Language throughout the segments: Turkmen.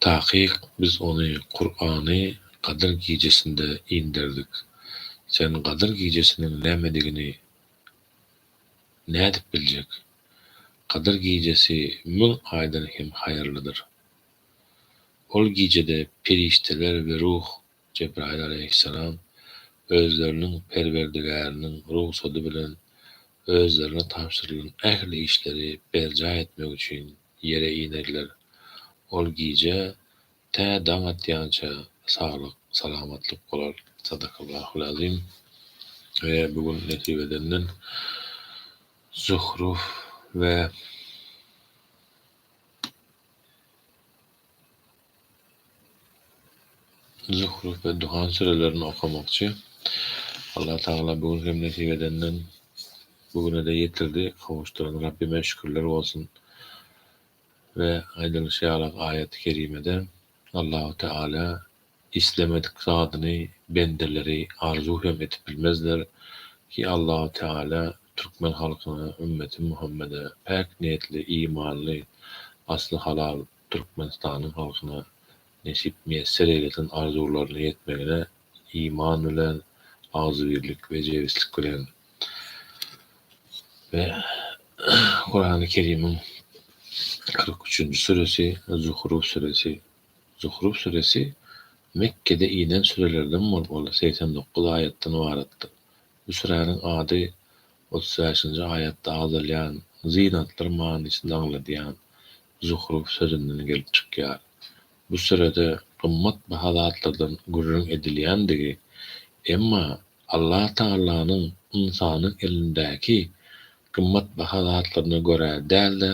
Takyk biz ony Kurany Gadyr gijesinde inderdik. Sen Gadyr gijesiniň nämedigini nädip biljek? Gadyr gijesi müň aýdan hem haýyrlydyr. Ol gijede perişdeler we ruh Jebraýyl alaýhyssalam özleriniň Perwerdigäriniň rugsady bilen özlerine tabşyrylan ähli işleri berjaý etmek üçin ýere inerler. Ol gije tä daň atýança saglyk, salamatlyk bolar. Sadakallahul azim. We bu gün nesip edenden Zuhruf we. Zuhruf we Duhan sürelerini okamakçy. Allah Tagala bu gün hem nesip edenden bu güne-de ýetirdi, gowuşdyran Rabbime şükürler bolsun. We aýdylyşy ýaly aýaty kerimede Allahu Teala islemedik zadyny bendeleri arzuw hem edip bilmezler ki Allahu Teala türkmen halkyna, ümmeti Muhammede päk niýetli, imanly, asly halal, Türkmenistanyň halkyna nesip miýesser eýlesen arzuwlaryna ýetmegine iman bilen, agzybirlik we jebislik bilen we Kurany Kerimiň kyrk üçünji süresi Zuhruf süresi Zuhruf süresi Mekgede inen sürelerden bolup ol segsen dokuz aýatdan ybaratdyr. Misräniň ady otuz bäşinji aýatda agzalýan zynatlar manysyny aňladýan zuhruf sözünden gelip çykýar. Bu sürede gymmat baha zatlardan gürrüň edilýändigi, emma Allatagallanyň ynsanyň elindäki gymmat baha zatlaryna görä däl-de,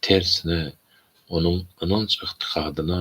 tersine, onuň ynanç-ygtykadyna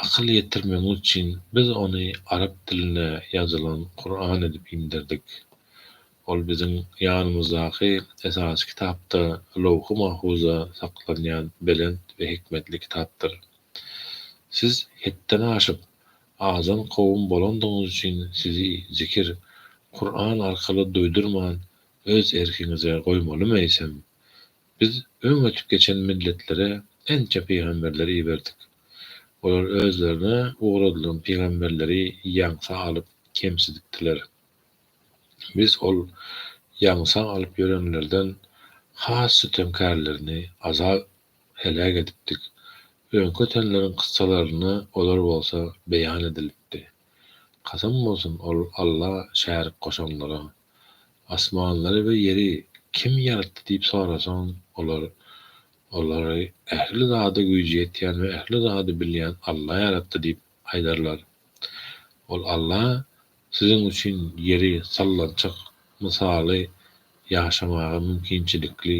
Akyl ýetirmegi üçin biz ony arap diline ýazylan Kuran edip inderdik. Ol biziň ýanymyzdaky esasy kitapda, Lowhy Mahfuzda saklanýan belent we hikmetli kitapdyr. Siz hetden aşyp, azan kowum bolandygyňyz üçin sizi zikir, Kuran, arkaly duýdurman öz erkiňize goýmalymy eýsem? Biz öň ötüp geçen milletlere ençe pygamberleri iberdik. Olar özlerine ugradylan pygamberleri ýaňsa alyp kemsidipdiler. Biz ol ýaňsa alyp ýörenlerden has sütemkärlerini azap, heläk, edipdik. Öňki ötenleriň kyssalaryny olar bolsa beýan edilipdi. Kasam bolsun ol Alla şärik goşanlara. Asmanlary we ýeri kim ýaratdy diýip sorasaň, olar, Olary ähli zada güýji ýetýän we ähli zady bilýän Alla ýaratdy diýip aýdarlar. Ol Alla siziň üçin ýeri sallançak, mysaly, ýaşamaga mümkinçilikli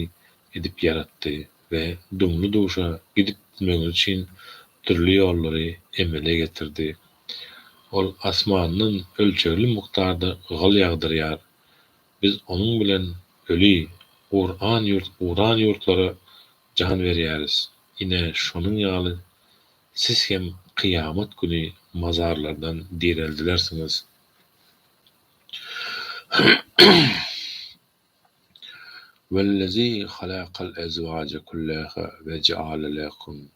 edip ýaratdy we dumly-duşa gidip-gitmegiňiz üçin dürli ýollary emele getirdi. Ol asmandan ölçegli mukdarda gyl ýagdyrýar. Biz onuň bilen öli, guran ýurt guran ýurtlara jan berýäris. Ine, şonuň ýaly siz hem kyýamat güni mazarlardan direldilersiňiz. Wellezî halakal ezwaje kullâhâ ve jaale lekum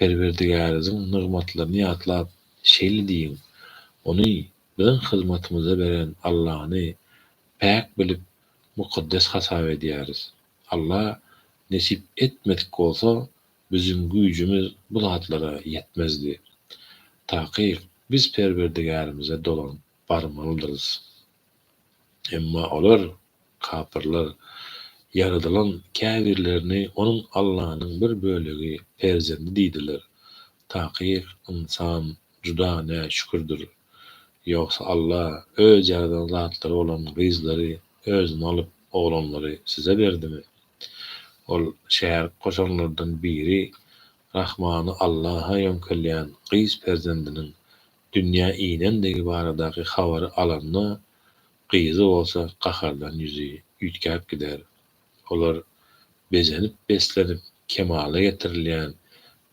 Perwerdigäriziň nygmatlaryny ýatlap, şeýle diýiň, Ony biziň hyzmatymyza beren Allany päk bilip, mukaddes hasap edýäris. Alla nesip etmedik bolsa, biziň güýjümiz bu zatlara ýetmezdi. Takyk, biz Perwerdigärimize dolanyp barmalydyrys. Emma olar. Kapyrlar, ýaradylan käbirlerini onuň Allanyň bir bölegi, perzendi diýdiler. Takyk, ynsan, juda näşükürdir. Ýogsa Alla Öz ýaradan zatlary bolan gyzlary Özüne alyp, oglanlary size berdimi? Ol şärik goşanlardan biri Rahmany Allaha ýöňkelýän gyz perzendiniň dünýä inendigi baradaky habary alanda, Gyzy bolsa gahardan ýüzi üýtgäp gider. Olar bezenip-beslenip kemala getirilýän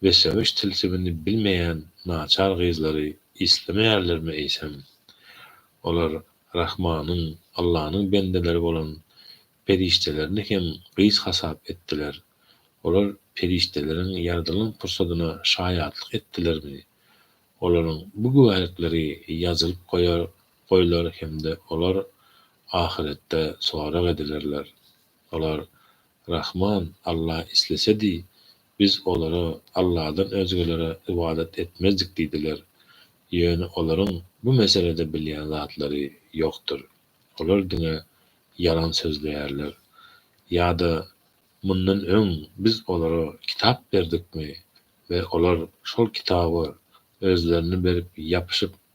we söweş tilsimini bilmeýän naçar gyzlary islemeýärlermi eýsem? Olar Rahmanyň, Allanyň bendeleri bolan perişdelerini hem gyz hasap etdiler. Olar perişdeleriň ýaradylan pursadyna şaýatlyk etdilermi? Olaryň bu güwälikleri ýazylyp goýar goýlar hem-de olar ahyretde sorag edilerler. Olar, Rahman, Alla islesedi, biz olara, Alladan özgelere ybadat etmezdik diýdiler. Ýöne olaryň bu meselede bilýän zatlary ýokdur. Olar diňe ýalan sözleýärler. Ýa-da, Mundan öň biz olara kitap berdikmi we olar şol kitaba özlerini berip ýapyşyp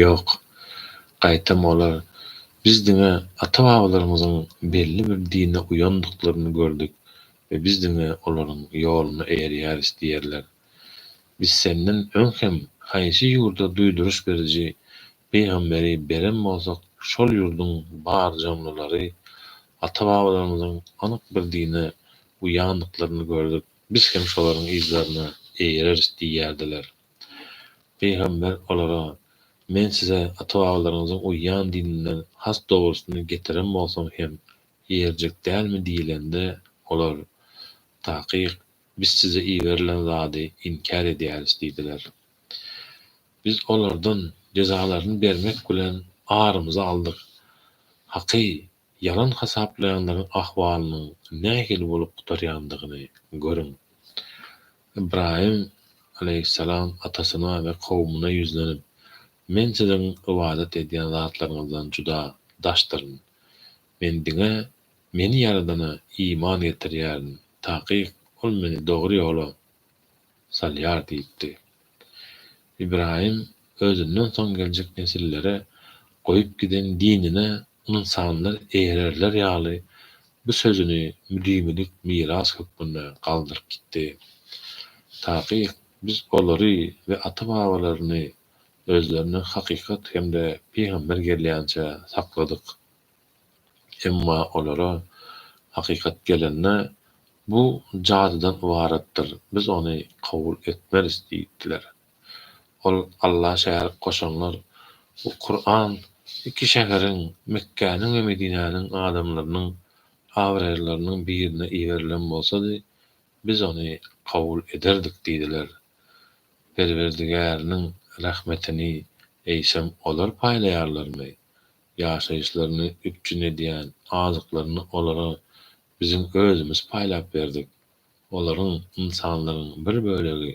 Ýok. Gaýtam olar, Biz diňe ata-babalarymyzyň belli bir dine uýandyklaryny gördük we biz diňe olaryň ýoluna eýerýäris diýerler. Biz senden öň hem haýsy ýurda duýduryş beriji pygamberi beren bolsak şol ýurduň bar janlylary ata-babalarymyzyň anyk bir dine uýandyklaryny gördük, biz hem şolaryň yzlaryna eýereris diýýärdiler. Pygamber olara, Men size ata-babalaryňyzyň uýýan dininden has dogrusyny getiren bolsam hem ýerjek dälmi diýilende, olar, Takyk, biz size iberilen zady inkär edýäris diýdiler. Biz olardan jezalaryny bermek bilen arymyzy aldyk. Haky, Ýalan hasaplaýanlaryň ahwalynyň nähili bolup gutarýandygyny görüň. Ybraýym alaýhyssalam atasyna we kowumyna ýüzlenip, Men siziň ybadat edýän zatlaryňyzdan juda daşdyryn. Men diňe Meni ýaradana iman getirýärin, takyk, ol meni dogry ýola salýar diýipdi. Ybraýym özünden soň geljek nesillere goýup giden dinine Ynsanlar ererler ýaly bu sözüni müdimilik miras hökmünde galdyryp gitdi. Takyk biz olary we ata-babalaryny özlerinden hakykat hem-de pygamber gelýänçä sakladyk. Emma olara hakykat gelende, Bu jadydan ybaratdyr, biz ony kabul etmeris diýipdiler. Ol Alla şärik goşanlar we Kuran iki şäheriň, Mekgäniň we Medinäniň adamlarynyň abraýlylarynyň birine iberilen bolsady, biz ony kabul ederdik diýdiler. Perwerdigäriniň rahmetini eýsem olar paýlaýarlarmy? Ýaşaýyşlaryny üpjün edýän azyklaryny olara biziň özümiz paýlap berdik. Olaryň, ynsanlaryň, bir bölegi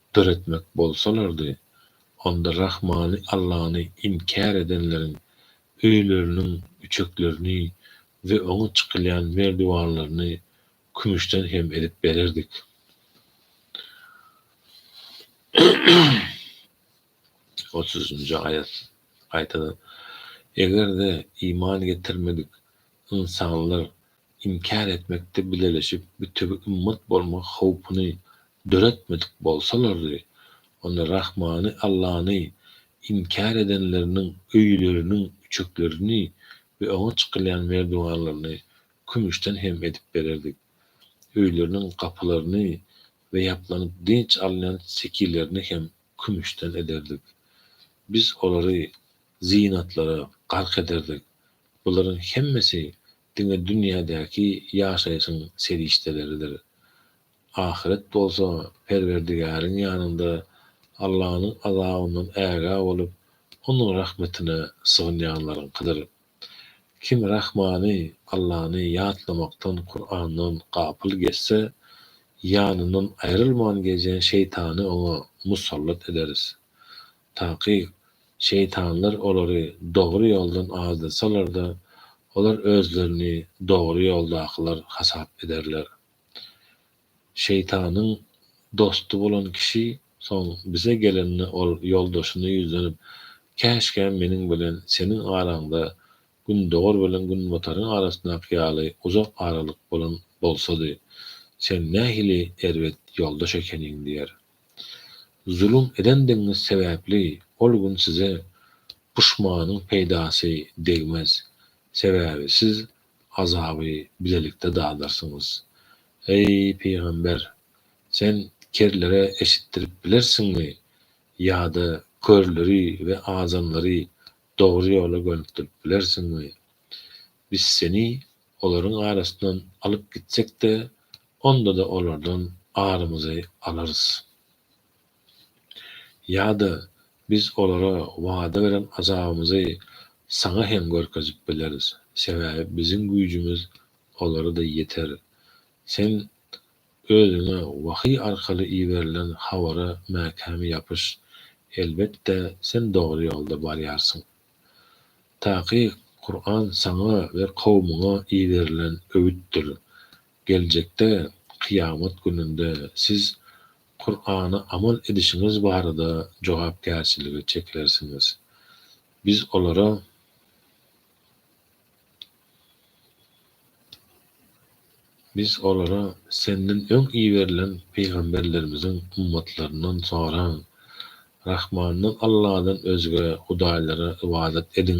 döretmek bolsalardy, onda Rahmany Allany inkär edenleriň öýleriniň üçeklerini we oňa çykylýan merdiwanlaryny kümüşden hem edip bererdik. otuzynjy aýat, gaýtadan, Eger-de iman getirmedik ynsanlar inkär etmekde bileleşip, bütewi ümmet bolmak howpuny döretmedik bolsalardy, onda Rahmany Allany inkär edenleriniň öýleriniň üçeklerini we oňa çykylýan merdiwanlaryny kümüşden hem edip bererdik. Öýleriniň gapylaryny we ýaplanyp dynç alynýan sekilerini hem kümüşden ederdik. Biz olary zynatlara gark ederdik. Bularyň hemmesi diňe dünýädäki ýaşaýşyň serişdeleridir. Ahyret bolsa Perwerdigäriň ýanynda Allanyň azabyndan ägä bolup, Onuň rahmetine sygynýanlaryňkydyr. Kim Rahmany, Allany, ýatlamakdan, Kurandan, gapyl geçse, ýanyndan aýrylman gezýän şeýtany oňa musallat ederis. Takyk, şeýtanlar olary dogry ýoldan azdasalar-da, olar özlerini dogry ýoldakylar hasap ederler. Şeýtanyň dosty bolan kişi soň bize gelende ol ýoldaşyna ýüzlenip, Käşgä meniň bilen seniň araňda gündogar bilen günbataryň arasyndaky ýaly uzak aralyk bolan bolsady. Sen nähili erbet ýoldaş ekeniň diýer. Zulum edendigiňiz sebäpli ol gün size puşmanyň peýdasy degmez. Sebäbi siz Azaby bilelikde dadarsyňyz. Eý, pygamber! Sen kerlere eşitdirip bilersiňmi? Ýa-da körleri we azanlary dogry ýola gönükdirip bilersiňmi? Biz seni olaryň arasyndan alyp gitsek-de, onda-da olardan arymyzy alarys. Ýa-da Biz olara wada beren azabymyzy saňa hem görkezip bileris, sebäbi biziň güýjümiz olara-da ýeter. Sen özüňe wahyý arkaly iberilen habara mäkäm ýapyş, elbetde, sen dogry ýolda barýarsyň. Takyk, Kuran saňa we kowumyňa iberilen öwütdir. Geljekde, kyýamat gününde siz Kurana amal edişiňiz barada jogapkärçilige çekilersiňiz. Biz olara Biz olara, Senden öň iberilen pygamberlerimiziň ummatlaryndan soraň, Rahmandan Alladan özge hudaýlara ybadat ediň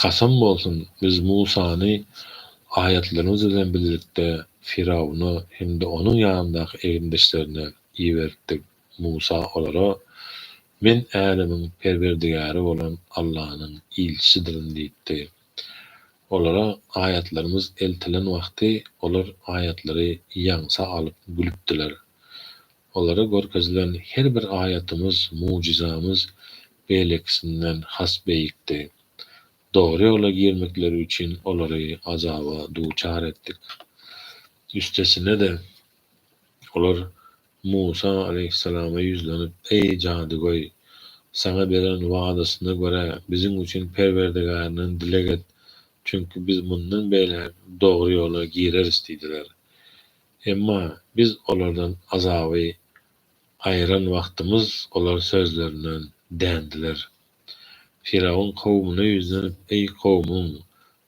Kasam bolsun, biz Musany aýatlarymyz bilen birlikde Firawuna hem-de onuň ýanyndaky egindeşlerine iberipdik. Musa olara, Men älemiň Perwerdigäri bolan Allanyň ilçisidirin diýipdi. Olara aýatlarymyz eltilen wagty olar aýatlary ýaňsa alyp gülüpdiler. Olara görkezilen her bir aýatymyz, mujyzamyz beýlekisinden has beýikdi. Dogry ýola girmekleri üçin olary azaba duçar etdik. Üstesine-de, olar Musa aleýhissalama ýüzlenip, Eý, jadygöý! Saňa beren wadasyna görä, biziň üçin Perwerdigärinden dileg et, çünki biz mundan beýläk dogry ýola gireris diýdiler. Emma biz olardan azaby gaýran wagtymyz olar sözlerinden dändiler. Firawun kowumyna ýüzlenip, Eý, kowumym!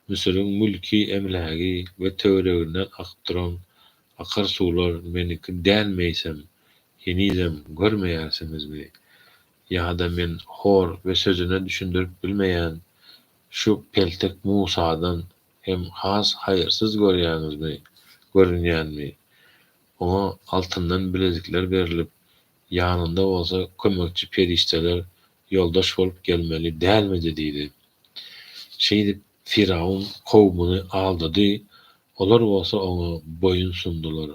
Müsüriň mülki, emlägi we töwereginden akyp duran akar suwlar meniňki dälmeýsem, henizem görmeýärsiňizmi? Ýa-da men hor we sözüne düşündirip bilmeýän şu peltek Musadan Hem has haýyrsyz görýäňizmi, görünýänmi? Oňa altyndan bilezikler berlip, ýanynda bolsa kömekçi perişdeler ýoldaş bolup gelmeli dälmidi? diýdi. Şeýdip, Firawun kowumyny aldady, olar bolsa oňa boýun sundular.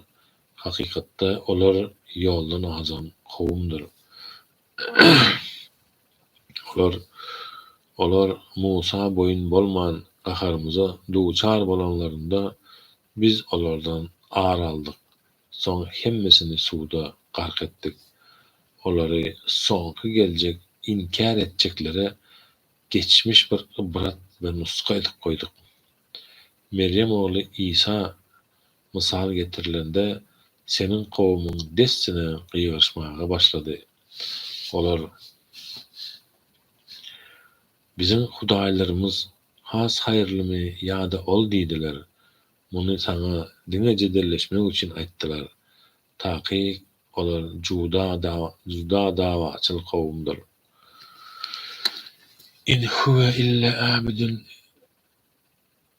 Hakykatda, olar ýoldan azan kowumdyr. Olar Olar Musa boýun bolman gaharymyza duçar bolanlarynda, biz olardan ar aldyk, soň hemmesini suwda gark etdik. Olary soňky geljek inkär etjeklere geçmiş bir ybrat we nusga edip goýduk. Merýem ogly Isa Mysal getirilende, seniň kowumyň dessine gygyryşmaga başlady. Olar, Biziň hudaýlarymyz has haýyrlymy ýa-da ol diýdiler. Muny saňa diňe jedelleşmek üçin aýtdylar. Taky olar juda juda dawaçyl kowumdyr. In huwe ille abidun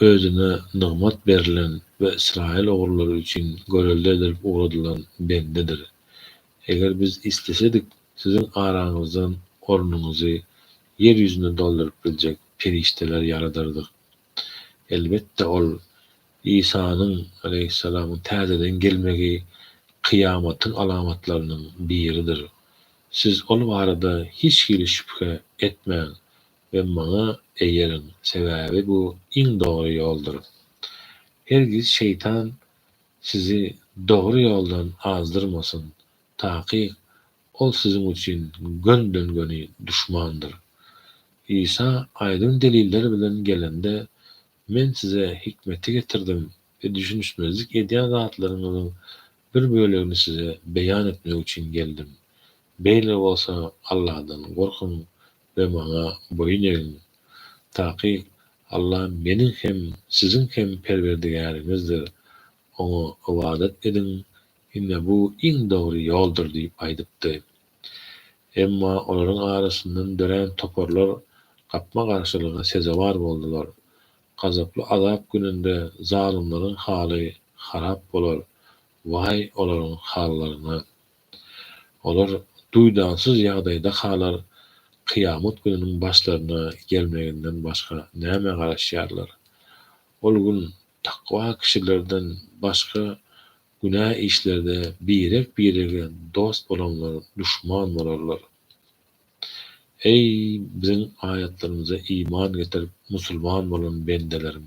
Özüne nygmat berlen we ysraýyl ogullary üçin görelde edilip ugradylan bendedir. Eger biz islesedik, siziň araňyzdan ornuňyzy ýer ýüzünde dolduryp biljek perişdeler ýaradardyk. Elbetde, ol, Isanyň, aleýhissalam, täzeden gelmegi kyýamatyň alamatlarynyň biridir. Siz ol barada hiç hili şübhe etmäň, we maňa eýeriň, sebäbi bu iň dogry ýoldur. Hergiz şeýtan sizi dogry ýoldan azdyrmasyn, takyk ol siziň üçin gönden-göni duşmandyr. Isa aýdyň deliller bilen gelende, Men size hikmeti getirdim we düşünişmezlik edýän zatlaryňyzyň bir bölegini size beýan etmek üçin geldim. Beýle bolsa, Allahdan gorkuň we maňa boýun egiň. Takyk Alla meniň hem, siziň hem Perwerdigäriňizdir. Oňa ybadat ediň, ine bu iň dogry ýoldur diýip aýdypdy. Emma olaryň arasyndan dörän toparlar gapma-garşylyga sezewar boldular. Gazaply azap gününde zalymlaryň haly harap bolar. Waý olaryň hallaryna! Olar duýdansyz ýagdaýda halar kyýamat gününiň başlaryna gelmeginden başga nämä garaşýarlar? Ol gün takwa kişilerden başga günä işlerde birek-birege dost bolanlar duşman bolarlar. Eý, biziň aýatlarymyza iman getirip musulman bolan bendeleriň!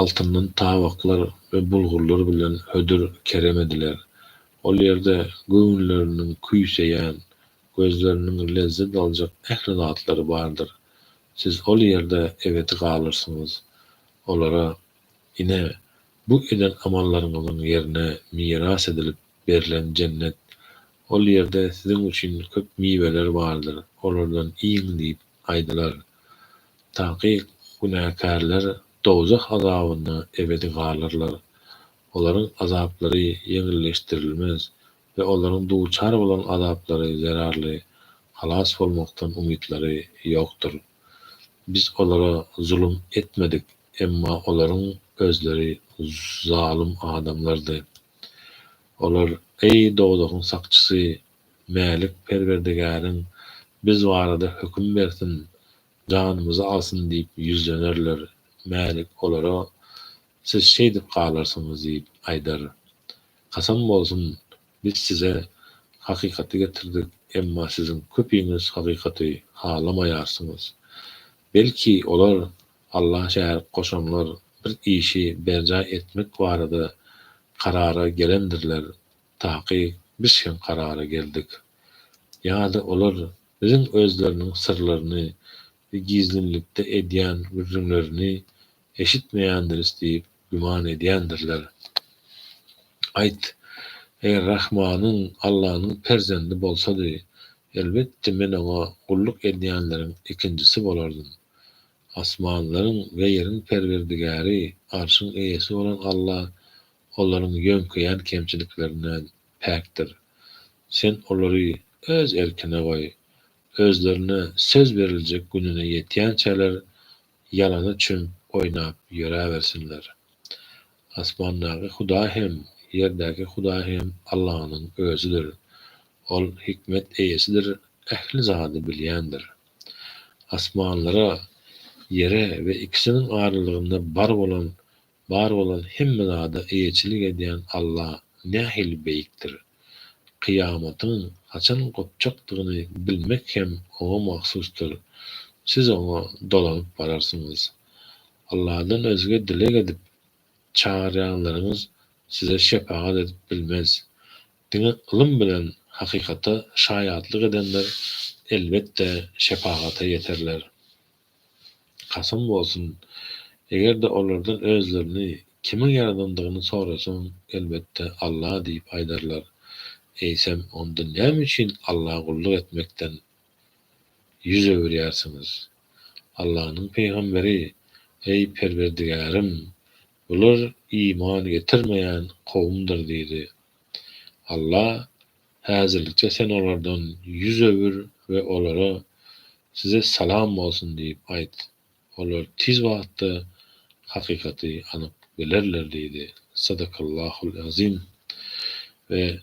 altyndan tabaklar we bulgurlar bilen hödür kerem ediler. Ol ýerde göwünleriniň küýseýän, gözleriniň lezzet aljak ähli zatlary bardyr. Siz ol ýerde ebedi galyrsyňyz. Olara, Ine, bu eden amallaryňyzyň ýerine miras edilip berlen jennet. Ol ýerde siziň üçin köp miweler bardyr, olardan iýiň diýip, aýdylar. Takyk günäkärler dowzah azabynda ebedi galarlar. Olaryň azaplary ýeňilleşdirilmez we olaryň duçar bolan azaplary zerarly halas bolmakdan umytlary ýokdur. Biz olara zulum etmedik, emma olaryň özleri zalym adamlardy. Olar, Eý, dowzahyň sakçysy! Mälik Perwerdigäriň biz barada höküm bersin, janymyzy alsyn diýip ýüzlenerler. Mälik olara, Siz şeýdip galarsyňyz diýip aýdar. Kasam bolsun, biz size hakykaty getirdik, emma siziň köpiňiz hakykaty halamaýarsyňyz. Belki, olar, Alla şärik goşanlar, bir işi berjaý etmek barada karara gelendirler. Takyk, biz şeň karara geldik. Ýa-da olar biziň özleriniň syrlaryny we gizlinlikde edýän gürrüňlerini eşitmeýändiris diýip güman edýändirler. Aýt, eger Rahmanyň, Allanyň perzendi bolsady, elbetde men oňa gulluk edýänleriň ikinjisi bolardym. Asmanlaryň we ýeriň Perwerdigäri, Arşyň eýesi bolan Alla olaryň ýöňkeýän kemçiliklerinden päkdir. Sen olary Öz erkine goý. Özlerine söz beriljek gününe ýetýänçäler ýalana çümüp oýnap ýöräbersinler. Asmandaky Hudaý hem, ýerdäki Hudaý hem Allanyň Özüdir. Ol hikmet eýesidir, ähli zady bilýändir. Asmanlara, ýere we ikisiniň aralygynda bar bolan Bar bolan hemme zada eýeçilik edýän Alla nähili beýikdir! Kyýamatyň haçan gopjakdygyny bilmek hem Oňa mahsusdyr. Siz Oňa dolanyp bararsyňyz. Alladan özge dileg edip, çagyrýanlaryňyz size şepagat edip bilmez. Diňe ylym bilen hakykata şaýatlyk edenler, elbetde, şepagata ýeterler. Kasam bolsun, eger-de olardan özlerini kimiň ýaradandygyny sorasaň, elbetde, Alla diýip aýdarlar. Eýsem, onda näme üçin Alla gulluk etmekden ýüz öwürýärsiňiz? Allanyň pygamberi, Eý, Perwerdigärim, bular iman getirmeýän kowumdyr diýdi. Alla, Häzirlikçe sen olardan ýüz öwür we olara, Size salam bolsun! diýip aýt. Olar tiz wagtda hakykaty anyk bilerler diýdi. Sadakallahul azim. We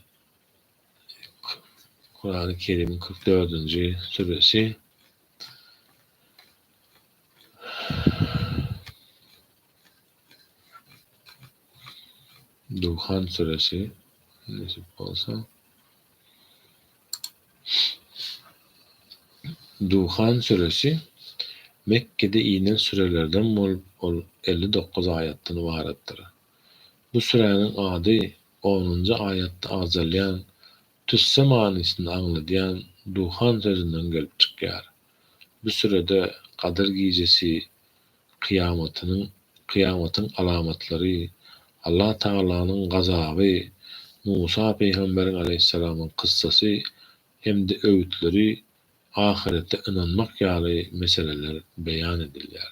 Kurany Kerimiň kyrk dördünji süresi. Döwhan süresi, nesip bolsa. Döwhan süresi Mekgede inen sürelerden bolup, ol elli dokuz aýatdan ybaratdyr. Bu süräniň ady onunjy aýatda agzalýan Tüsse manysyny aňladýan duhan sözünden gelip çykýar. Bu sürede Gadyr gijesi kyýamatynyň, kyýamatyň alamatlary, Allah Tagalanyň gazaby, Musa pygamberiň aleýhyssalamyň kyssasy hem-de öwütleri, ahyrete ynanmak ýaly meseleler beýan edilýär.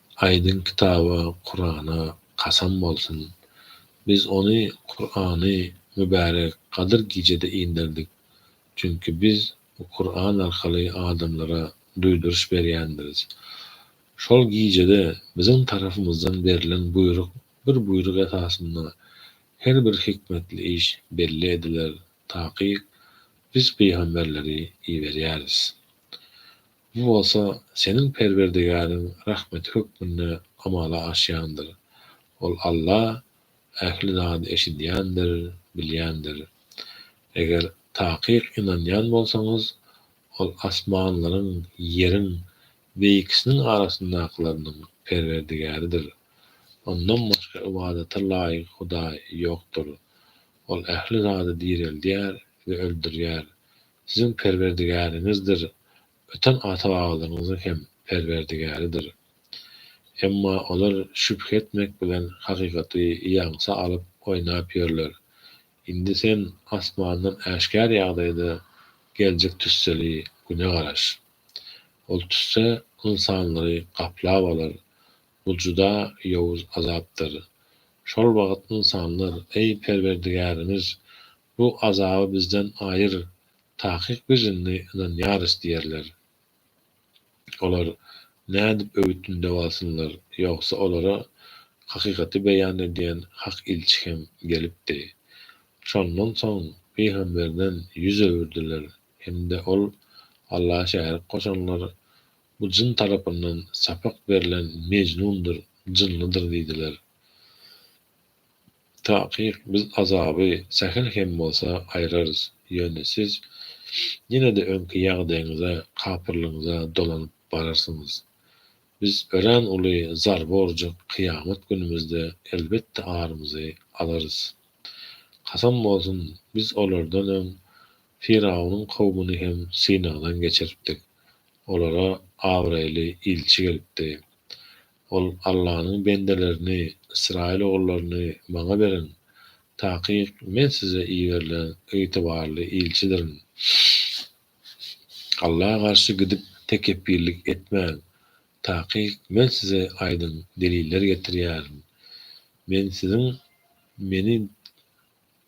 Aýdyň kitaba Kurana kasam bolsun biz ony Kurany mübärek gadyr gijede inderdik çünki biz bu Kuran arkaly adamlara duýduryş berýändiris şol gijede biziň tarapymyzdan berlen buýruk bir buýruk esasynda her bir hikmetli iş belli ediler takyk biz pygamberleri iberýäris Bu bolsa seniň Perwerdigäriň rahmeti hökmünde amala aşýandyr. Ol Alla ähli zady eşidýändir, bilýändir. Eger takyk ynanýan bolsaňyz, Ol asmanlaryň, ýeriň we ikisiniň arasyndakylarynyň Perwerdigäridir. Ondan başga ybadata laýyk hudaý ýokdur. Ol ähli zady direldýär we öldürýär. Siziň Perwerdigäriňizdir, öten ata-babalaryňyzyň hem Perwerdigäridir. Emma olar şübhe etmek bilen hakykaty ýaňsa alyp oýnap ýörler. Indi sen asmandan äşgär ýagdaýda geljek tüsseli Güne garaş. Ol tüsse ynsanlary gaplap alar. Bu juda ýowuz azapdyr. Şol wagt ynsanlar, Eý, Perwerdigärimiz, Bu azaby bizden aýyr, takyk birini ynanýarys diýerler. Olar nädip öwüt-ündew alsynlar, ýogsa olara hakykaty beýan edýän hak ilçi hem gelipdi. Şondan soň pygamberden ýüz öwürdiler hem-de ol Alla şärik goşanlar bu jyn tarapyndan sapak berlen mejnundyr, jynlydyr diýdiler. Takyk biz azaby sähel hem bolsa aýrarys, ýöne siz ýene-de öňki ýagdaýyňyza, kapyrlygyňyza dolanyp bararsyňyz. Biz örän uly zarba urjak kyýamat günümizde elbetde arymyzy alarys. Kasam bolsun, biz olardan öň Firawunyň kowmuny hem synagdan geçiripdik. Olara abraýly ilçi gelipdi. Ol, Allanyň bendelerini, ysraýyl ogullaryny maňa beriň, takyk men size iberilen ygtybarly ilçidirin. Alla garşy gidip tekepbirlik etmäň, takyk men size aýdyň deliller getirýärin. Men siziň Meni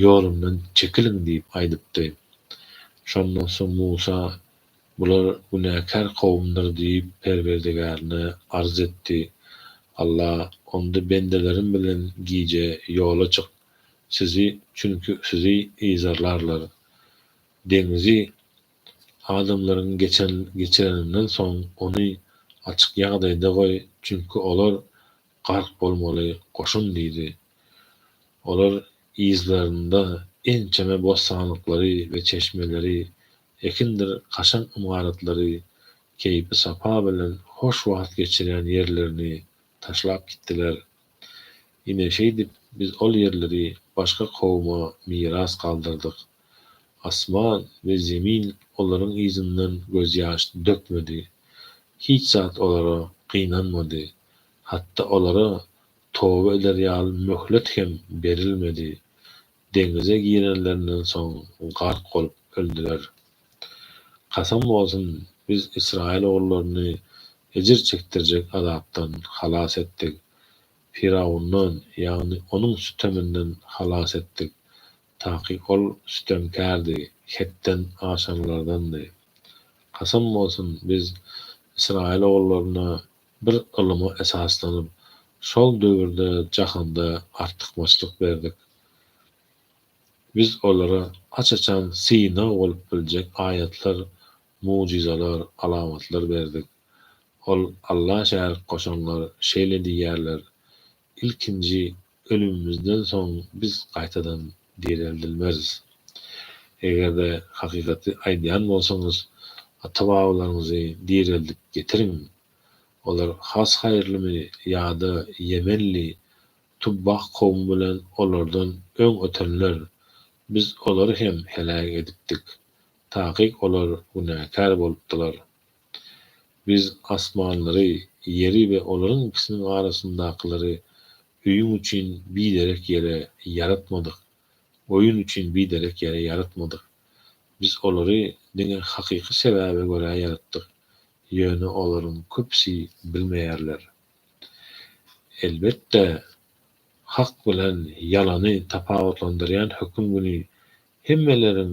ýolumdan çekiliň diýip aýdypdy. Şondan soň Musa, Bular günäkär kowumdyr diýip, Perwerdigärine arz etdi. Alla, Onda bendelerim bilen gije ýola çyk, sizi, çünki sizi yzarlarlar. Deňzi adamlaryň geçen, geçireninden soň ony açyk ýagdaýda goý, çünki olar gark bolmaly goşun diýdi. Olar yzlarynda ençeme bossanlyklary we çeşmeleri, ekindir kaşaň ymaratlary, keýpi-sapa bilen hoş wagt geçirýän ýerlerini taşlap gitdiler. Ine, şeýdip biz ol ýerleri başga kowuma miras galdyrdyk. Asman we zemin olaryň yzyndan gözýaş dökmedi. Hiç zat olara gynanmady. Hatda olara Toba eder ýaly möhlet hem berilmedi. Deňize girenlerinden soň gark bolup öldüler. Kasam bolsun, biz ysraýyl ogullaryny ejir çekdirjek azapdan halas etdik. Firawundan, ýagny onuň süteminden halas etdik, taky ol sütemkärdi, hetden aşanlardandy. Kasam bolsun, biz ysraýyl ogullaryna Bir ylyma esaslanyp, şol döwürde jahanda artykmaçlyk berdik. Biz olara aç-açan synag bolup biljek aýatlar, mugjyzalar, alamatlar berdik. Ol Alla şärik goşanlar şeýle diýýärler, Ilkinji ölümimizden soň biz gaýtadan direldilmeris. Eger-de hakykaty aýdýan bolsaňyz, ata-babalaryňyzy direldip getiriň. Olar has haýyrlymy ýa-da ýemenli Tubbah kowumy bilen olardan öň ötenler? Biz olary hem heläk edipdik. Takyk olar günäkär bolupdylar. Biz asmanlary, ýeri we olaryň ikisiniň arasyndakylary öýüň üçin biderek ýere ýaratmadyk, oýun üçin biderek ýere ýaratmadyk. Biz olary diňe hakyky sebäbe görä ýaratdyk, ýöne olaryň köpüsi bilmeýärler. Elbetde, hak bilen ýalany tapawutlandyrýan höküm güni hemmeleriň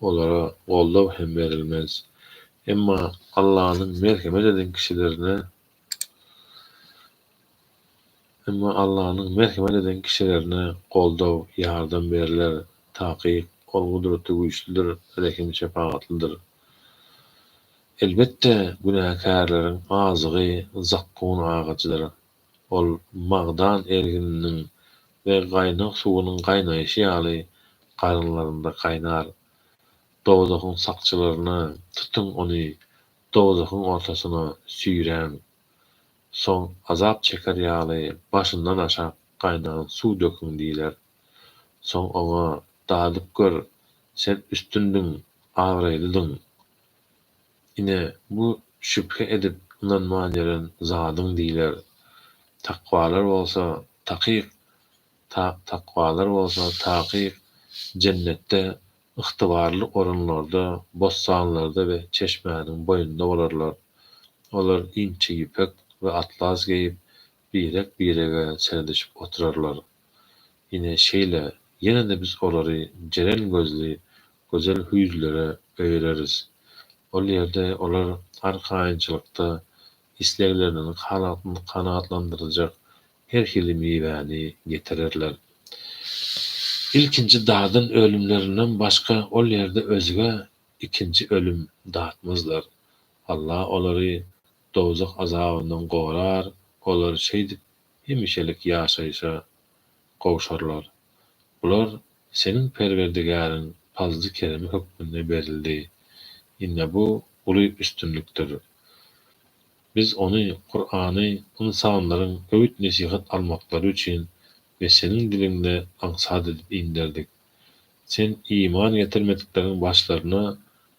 Olara goldaw hem berilmez. Emma Allanyň merhemet eden kişilerine Emma Allanyň merhemet eden kişilerine goldaw, ýardam berler. Takyk, Ol gudratly-güýçlüdir, rehim-şepagatlydyr. Elbetde, günäkärleriň azygy zakgun agajydyr. Ol magdan ergininiň we gaýnag suwunyň gaýnaýşy ýaly garynlarynda gaýnar. Dowzahyň sakçylaryna, Tutuň ony, dowzahyň ortasyna süýräň. Soň azap çeker ýaly başyndan aşak gaýnan suw döküň diýler. Soň oňa, Dadyp gör, sen üstündiň, abraýlydyň. Ine, bu şübhe edip ynanman ýören zadyň diýler. Takwalar bolsa, takyk, ta, takwalar bolsa, takyk, Jennetde ygtybarly orunlarda, bossanlarda we çeşmäniň boýunda bolarlar. Olar inçe ýüpek we atlas geýip, Birek-birege seredişip oturarlar. Ine, şeýle, ýene-de biz olary jeren gözli, gözel hüýzlere öýereris. Ol ýerde olar arkaýynçylykda islegleriniň kanagatlandyrjak her hili miwäni getirerler. Ilkinji dadan ölümlerinden başga ol ýerde özge ikinji ölüm datmazlar. Alla olary dowzah azabyndan gorar, olar şeýdip hemişelik ýaşaýşa gowşarlar. Bular Seniň Perwerdigäriň pazly-keremi hökmünde berildi. Ine bu uly üstünlikdir. Biz ony, Kurany, ynsanlaryň öwüt-nesihat almaklary üçin we seniň diliňde aňsat edip inderdik. Sen iman getirmedikleriň başlaryna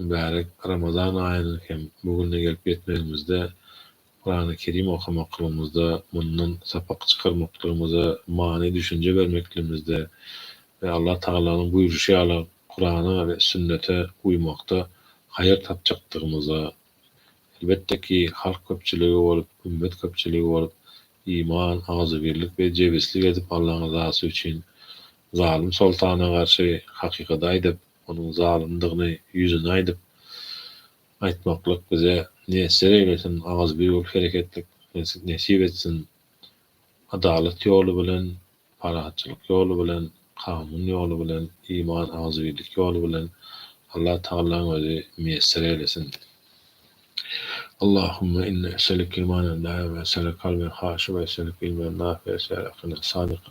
Mübärek Ramazan aýynyň hem bu gününe gelip ýetmegimizde, Kurany-Kerim okamaklygymyzda, mundan sapak çykarmaklygymyza, many düşünje bermekligimizde we Allah Tagalanyň buýruşy ýaly Kurana we sünnete uýmakda haýyr tapjakdygymyza, elbetde ki, halk köpçüligi bolup, ümmet köpçüligi bolup, iman, agzybirlik we jebislik edip Allaň yzasy üçin zalym soltana garşy hakykaty aýdyp, onuň zalymdygyny ýüzüne aýdyp, aýtmaklyk bize miýesser eýlesin, agzybir bolup herek etdik nesip etsin, adalat ýoly bilen, parahatçylyk ýoly bilen, kanun ýoly bilen, iman, agzybirlik ýoly bilen Allah Tagallaň özi miýesser eýlesin. Allahumma inni eselike imanen daime, eselike kalben haşi we eselike ilmen nafi, eselike akiden sadika,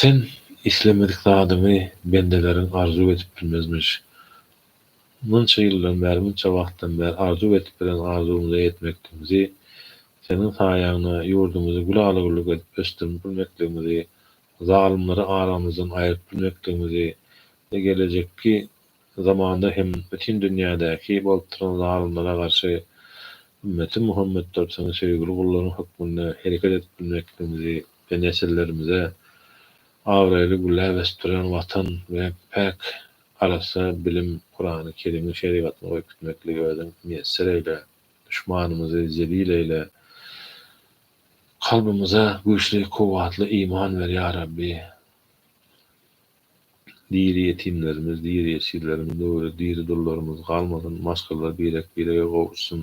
Sen islemedik zadyňy bendeleriň arzuw edip bilmezmiş. Munça ýyldan bäri, munça wagtdan bäri arzuw edip bilen arzuwymyza ýetmekdigimizi, Seniň saýaňda ýurdumyzy gülala-güllük edip ösdürip bilmekdigimizi, zalymlary aramyzdan aýryp bilmekdigimizi we gelejekki zamanda hem bütin dünýädäki bolup duran zalymlara garşy Ümmeti Muhammetdir Seniň söýgüli gullaryň hökmünde hereket edip bilmekdigimizi, we nesillerimize abraýly gülläp ösdüren Watan we päk arassa bilim Kurany Kerimiň şerigatyny goýup gitmekligi Özüň miýesser eýle, duşmanymyzy zelil eýle, kalbymyza güýçli kuwwatly iman ber ýa Rabbi, diri ýetimlerimiz, diri ýesirlerimiz, döwri diri dullarymyz galmasyn, maşgalalar birek-birege gowuşsyn.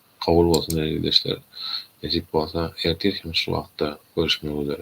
Kabul bolsun däli ildeşler nesip bolsa ertir hem şu wagtda görüşmek üzere.